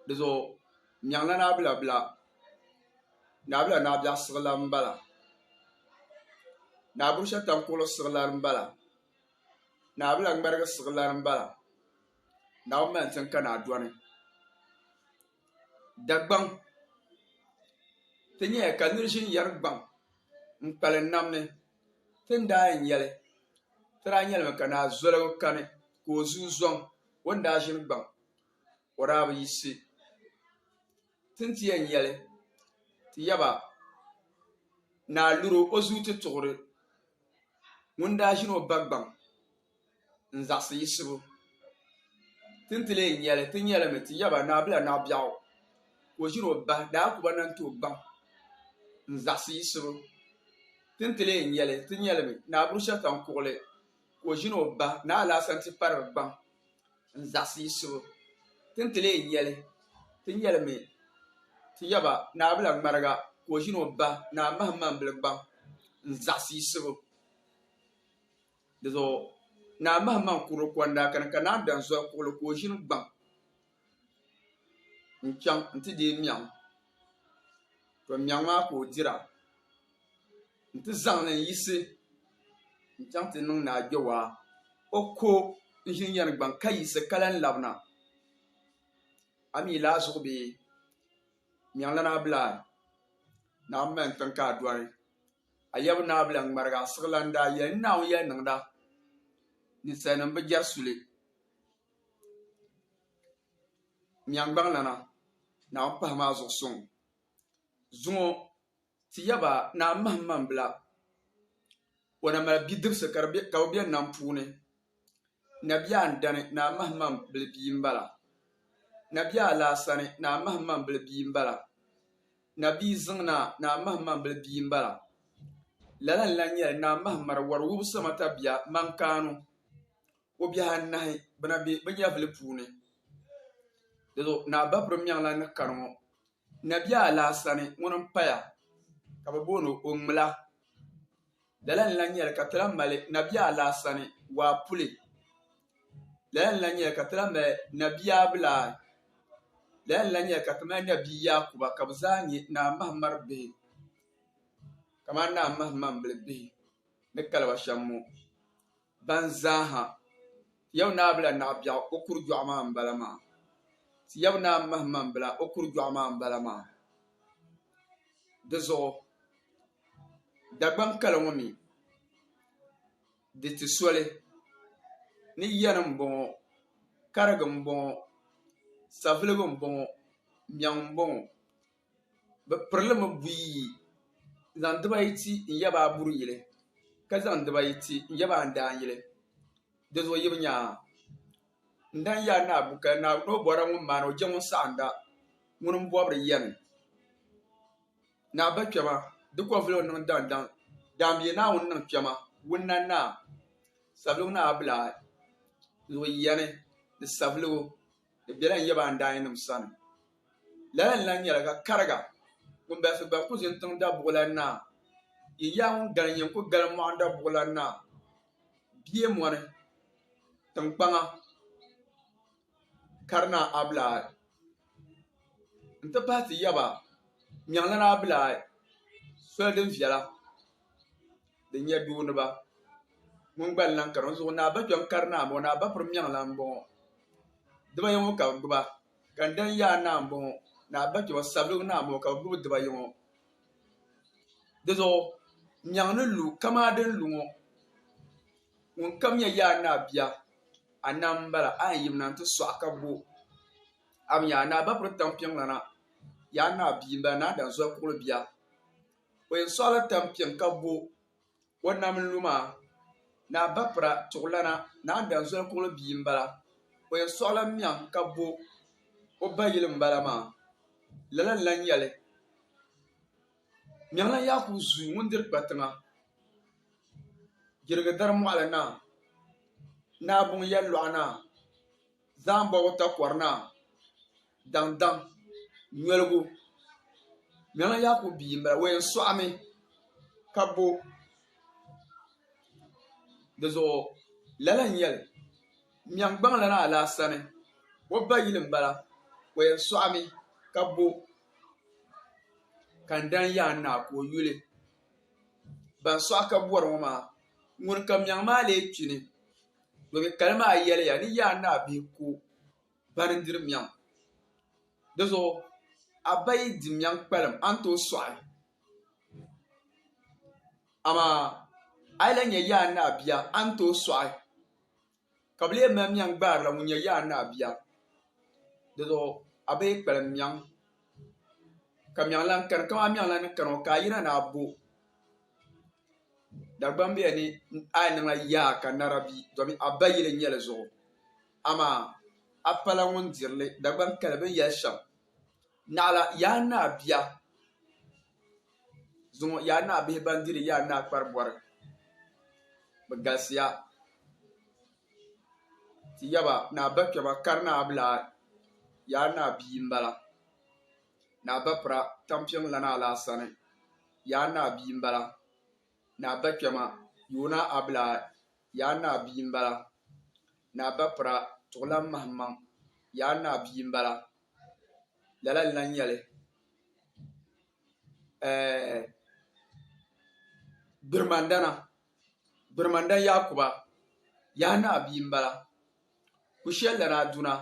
Di zuɣu n nyaŋla naabila bila naabila naa biɛɣu siɣilan n bala naa buɣu shɛli tam kuɣuli siɣilan n bala naabila ŋmarigi siɣilan n bala Naawuni maa n chɛŋ ka naa dɔni Dagbaŋ ti nyɛli ka nira ʒini yɛri gbaŋ n kpalim nam ni ti ni daa yɛn nyɛli ti daa nyɛlimi ka naa zoligu kani ka o zuui zɔŋ O ni daa ʒiri gbaŋ o daa bi yiɣisi ti ni ti yɛn yɛli ti yaba ni a luri o zuyu ti tuɣiri ŋun daa ʒiri o ba gbaŋ n-zaɣisi yiɣisibu. Ti ni ti lee yɛli ti nyɛli mi ti yaba ni Abila Naɣibiɛɣu ka o ʒiri o ba daa ku ba Nantoo gbaŋ n-zaɣisi yiɣisibu. Ti ni ti lee yɛli ti nyɛli mi ni Aburushatan Kuɣili Ka o ʒini o ba ni alaasa nti pari di gbaŋ n-zaɣisi yiɣisibu. Ti ni ti leei yɛli, ti yɛlimi ti yaba Naabila ŋmariga ka o ʒini o ba ni a mahimaŋbili gbaŋ n-zaɣisi yiɣisibu. Dizuɣu Naa Mahimaŋ kurili kɔndaa kani ka Naa Danzɔri kuɣili ka o ʒini gbaŋ. n chaŋ n ti deei Miɛɣu to Miɛɣu maa ka o dira n ti zaŋli n yiɣisi n chaŋ ti niŋ ni a Kpewaa o ko n ʒini yɛni gbaŋ ka yiɣisi ka lahi labina a mi yi lahi zuɣu be Miɛɣu lana bila ni a mi mali tiŋ ka a doli a yaba ni a bi lahi ŋmarigi a siɣilan daa yɛli Naawuni yɛli niŋda ninsalinim bi jɛri suli. Miɛŋgbaŋlana naa o pahi maa zuɣu suŋ. Zuŋɔ ti ya ba naa mahim man bila o na mali bidibisi ka bɛ be nam puuni. Nabia Andani naa mahim man bil bia m-bala. Nabia Alaasani naa mahim man bil bia m-bala. Nabia Ziŋnaa naa mahim man bil bia m-bala. Lala n-lan nyɛli Naa Mahim Mari Wɔri Wubisima Tabia Maŋkaanu. o biɛhi anahi bɛ na be bɛ nyɛvili puuni. Dinzuɣu Naa Babirim Nyaŋlan ni kani ŋɔ, Nabiaa Alaasani ŋuni m-paya ka bɛ booni o Ŋmila. Lala n-lan nyɛli ka ti lahi mali Nabiaa Alaasani waa puli. Lala n-lan nyɛli ka ti lahi mali Nabiaa Bilaal. Lala n-lan nyɛli ka ti mali Nabia Yaakuba ka bɛ zaa nyɛ Naa Mahamari bihi kamani Naa Mahamambili bihi ni kali ba shɛm ŋɔ. Ban zaaha Yawɛ Naa bila naɣ biɛɣu, o kur jɔɣu maa m-bala maa. Yawɛ Naa mahi man bila, o kur jɔɣu maa m-bala maa. Di zuɣu Dagbaŋ kali ŋɔ mi, di ti soli ni yani m-bɔŋɔ, karigi m-bɔŋɔ, saviligu m-bɔŋɔ, mɛŋ m-bɔŋɔ. Bɛ pirili mi buyi yi, zaŋ dibaayi ti n-yaba a buri yili, ka zaŋ dibaayi ti n-yaba a daan yili. Di zuɣu yi bi nya a? N daa n-yɛl a ni a bu kaya ni o bɔrila ŋun maani o je ŋun saɣinda ŋuni m-bɔbiri yɛm ni a ba kpɛma di kɔvili o niŋ daŋdaŋ daambiɛ Naawuni niŋ kpɛma wunna ni a sabligu ni a bilaa zuɣu yɛni ni sabligu. di bela n yaba n daayinima sani. Lala n-lan nyɛla ka kariga ŋun balisi gba ku ʒini tiŋ Dabuɣilan Naa. Yin yaa ŋun gali n-yɛn ku gali mɔɣin Dabuɣilan Naa bie mɔni tiŋkpaŋa Karinaa Abilaai nti pahi ti yaba Nyaŋlana Abilaai soli din viɛla din nyɛ dooniba ŋun gba n-lahi kani o zuɣu ni a ba kpɛm kari naa m-bɔŋɔ ni a ba piri mɛŋ lan m-bɔŋɔ diba yɔŋɔ ka bɛ gbuba ka n dani yaai naa m-bɔŋɔ ni a ba kpɛm sabigi naa m-bɔŋɔ ka bɛ gbubi diba yɔŋɔ di zuɣu mɛŋ ni lu kamaa din lu ŋɔ ŋun kam nyɛ yaai naa bia a nam m-bala a yɛn yimina nti sɔɣi ka bo a mi yaai ni a ba piri tampiŋlana yaai naa bia m-bala ni a dani zoli kurili bia. O yɛn sɔɣila tampiɛŋ ka bo o nam n-lu maa. Naa Bapira Tuɣilana, Naa Danzoli Kuɣili bia m-bala. O yɛn sɔɣila Miɛŋ ka bo o ba yili m-bala maa. Lala n-lan yɛli, Miɛŋlan Yakubu Zuu ŋun diri kpa tiŋa, Girigidari Mɔɣili Naa, Naa Buŋ Yɛllɔɣu Naa. Zaambɔgu takɔri naa daŋdaŋ nyoligu Mɛŋa Yakubu bia m-bala. O yɛn sɔɣimi ka bo di zuɣu lala n-nyɛ li. Mɛŋgbaŋ la naa Laa sani o ba yili m-bala. O yɛn sɔɣimi ka bo Kandani Yaan Naa ka o yuli. Ban sɔɣi ka bɔri ŋɔ maa, ŋuni ka Mɛŋ maa leei kpini? Domi kali maa yɛliya ni yaa naa bee ko bani n-diri mɛŋ. Di zuɣu a ba yi di mɛŋ kpalim a ni tooi sɔɣi li. Amaa a yi lahi nya yaa naa bia a ni tooi sɔɣi ka bɛ lee mali mɛŋ gbaarila ŋun nyɛ yaa naa bia. Di zuɣu a ba yi kpalim mɛŋ ka mɛŋ lahi kani, kaman mɛŋ lahi ni kani ŋɔ ka a yina ni a bo. Dagbam bɛ ni a yi niŋ a yaa ka nara bi domi a ba yili nyɛli zuɣu. Amaa a pala ŋun diri li. Dagbam kali bɛ ni yɛli shɛm, Naɣila, yaa naa bia, zuŋɔ yaa naa bihi ban diri yaa naa kparibɔri, bɛ galisiya. Ti yaba ni a bakpɛma kari ni a bi lahi yaa naa bia m-bala. Naa Bapira, tampiŋ lana la a sani, yaa naa bia m-bala. Naa Bakpɛma, yoona abila, yaa naa bia m-bala. Naa Bapira, tuɣilan mahimaŋ, yaa naa bia m-bala. Lala n-lan nyɛ li. Ɛɛh Gbirimandana, Gbirimandana Yakuba, yaa naa bia m-bala. Kushɛlana Aduna.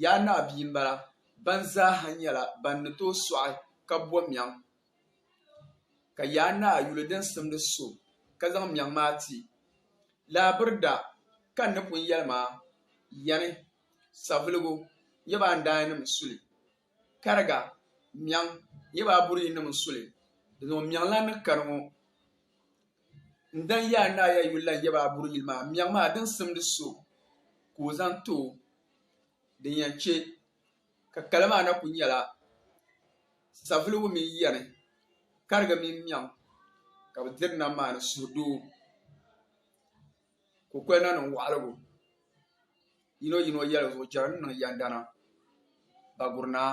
Yaa Naa bia m-bala ban zaa ha nyɛla ban ni tooi sɔɣi ka bo mɛŋ. Ka Yaa Naa yuli din simdi so ka zaŋ mɛŋ maa ti, Laabirida ka n ni pun yɛli maa yani, Saviligu nyɛ ba andaannim suli, Kariga mɛŋ nyɛ ba aburiyinim suli, dinzuɣu mɛŋ lan ni kani ŋɔ. N dan ya a ni a ya yuli la n yaba a buri yili maa miɛŋ maa din simdi so ka o zaŋ ti o. Din yɛn chɛ ka kali maa na kul nyɛla savuligu mini yɛni, kariga mini miɛŋ ka bɛ diri nam maa ni suhudoo. Kukoli na niŋ waɣiligu yinoyino yɛligu zuɣu jɛri ni niŋ yɛndana Bagurinaa.